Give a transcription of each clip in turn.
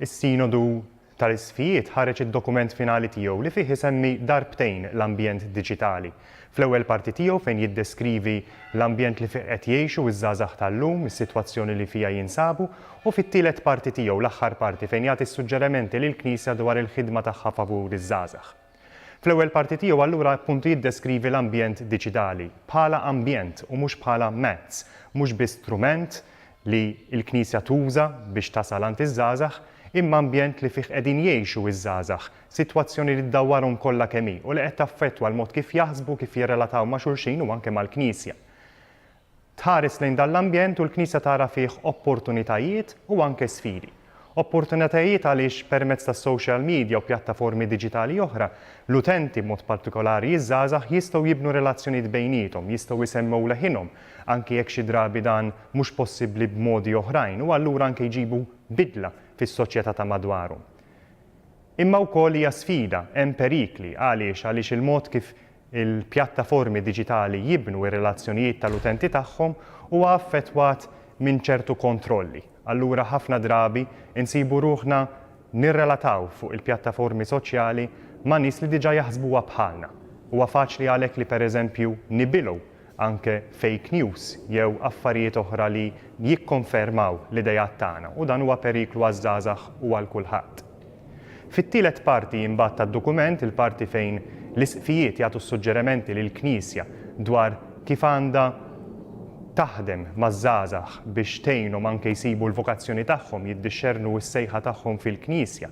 Is-Sinodu tal-Isqfijiet ħareġ id-dokument finali tiegħu li fih isemmi darbtejn l-ambjent diġitali. Fl-ewwel parti tiegħu fejn jiddeskrivi l-ambjent li fih qed jgħixu ż-żgħażagħ tal-lum, is-sitwazzjoni li fiha jinsabu, u fit-tielet parti tiegħu, l-aħħar parti, fejn jagħti s-suġġerementi lill-Knisja dwar il-ħidma tagħha favur iż-żgħażagħ. Fl-ewwel parti tiegħu allura appuntu jiddeskrivi l-ambjent diċidali bħala ambjent u mhux bħala mezz, mhux biss strument li l-Knisja tuża biex tasal għand iż-żgħażagħ, imma ambjent li fih qegħdin jgħixu iż-żgħażagħ, sitwazzjoni li ddawwarhom kollha kemm hi u li qed taffettwa l-mod kif jaħsbu, kif jirrelataw ma' xulxin u anke mal-Knisja. Tħares lejn dan l-ambjent u l-Knisja tara fih opportunitajiet u anke sfidi. Opportunitajiet għaliex permezz tas-social media u pjattaformi diġitali oħra, l-utenti, b'mod partikolari ż-żgħażagħ, jistgħu jibnu relazzjonijiet bejniethom, jistgħu jsemmew leħinhom, anke jekk xi drabi dan mhux possibbli b'modi oħrajn, u allura anke jġibu bidla fis-soċjetà ta' madwarhom. Imma wkoll hija sfida, hemm perikli. Għaliex? Għaliex il-mod kif il-pjattaformi diġitali jibnu r-relazzjonijiet tal-utenti tagħhom huwa affettwat minn ċertu kontrolli. Allura ħafna drabi nsibu ruħna nirrelataw fuq il-pjattaformi soċjali ma' nies li diġà jaħsbuha bħalna. Huwa faċli għalhekk li pereżempju nibilgħu anke fake news jew affarijiet oħra li jikkonfermaw l-ideat tagħna u dan huwa periklu għaż-żgħażagħ u għal kulħadd. Fit-tielet parti imbagħad tad-dokument, il-parti fejn l-Isqfijiet jagħtu s-suġġerimenti lill-Knisja dwar kif għandha taħdem maż-żgħażagħ biex tgħinhom anke jsibu l-vokazzjoni tagħhom, jiddixxernu s-sejħa tagħhom fil-Knisja,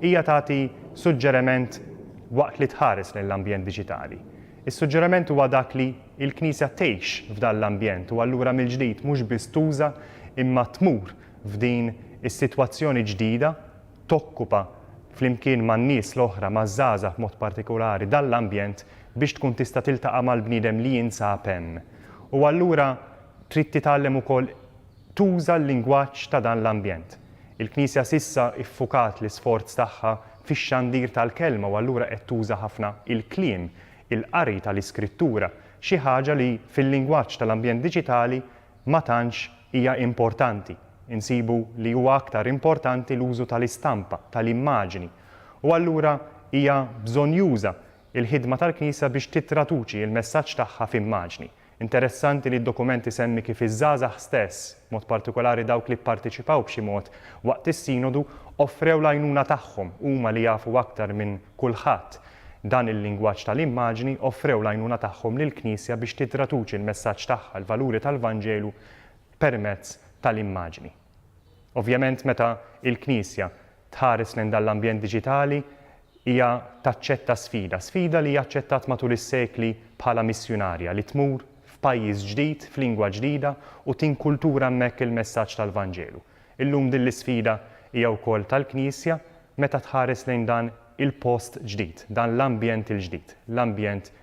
hija tagħti suġġeriment waqt li tħares lejn l-ambjent diġitali. Is-suġġeriment huwa dak li l-Knisja tgħix f'dan l-ambjent u allura mill-ġdid mhux biss tuża imma tmur f'din is-sitwazzjoni ġdida, tokkupa flimkien man-nies l-oħra, maż-żgħażagħ b'mod partikulari, dan l-ambjent biex tkun tista' tiltaqa' mal-bniedem li jinsab hemm. U allura trid titgħallem ukoll tuża l-lingwaġġ ta' dan l-ambjent. Il-Knisja s'issa ffukat l-isforz tagħha fix-xandir tal-Kelma u allura qed tuża ħafna il-kliem, il-qari tal-Iskrittura, xi ħaġa li fil-lingwaġġ tal-ambjent diġitali ma tantx hija importanti. Insibu li huwa aktar importanti l-użu tal-istampa, tal-immaġni. U allura hija bżonnjuża l-ħidma tal-Knisja biex tittraduċi l-messaġġ tagħha f'immaġni. Interessanti li d-dokument isemmi kif iż-żgħażagħ stess, b'mod partikolari dawk li pparteċipaw b'xi mod waqt is-Sinodu, offrew l-għajnuna tagħhom, huma li jafu aktar minn kulħadd dan il-lingwaġġ tal-immaġni, offrew l-għajnuna tagħhom lill-Knisja biex titraduċi l-messaġġ tagħha, l-valuri tal-Vanġelu permezz tal-immaġni. Ovvjament meta l-Knisja tħares lejn dan l-ambjent diġitali hija taċċetta sfida, sfida li hija aċċettat matul is-sekli bħala missjunarja li tmur f'pajjiż ġdid, f'lingwa ġdida u tinkultura hemmhekk il-messaġġ tal-Vanġelu. Illum din l-isfida hija wkoll tal-Knisja meta tħares lejn dan il-post ġdid, dan l-ambjent il-ġdid, l-ambjent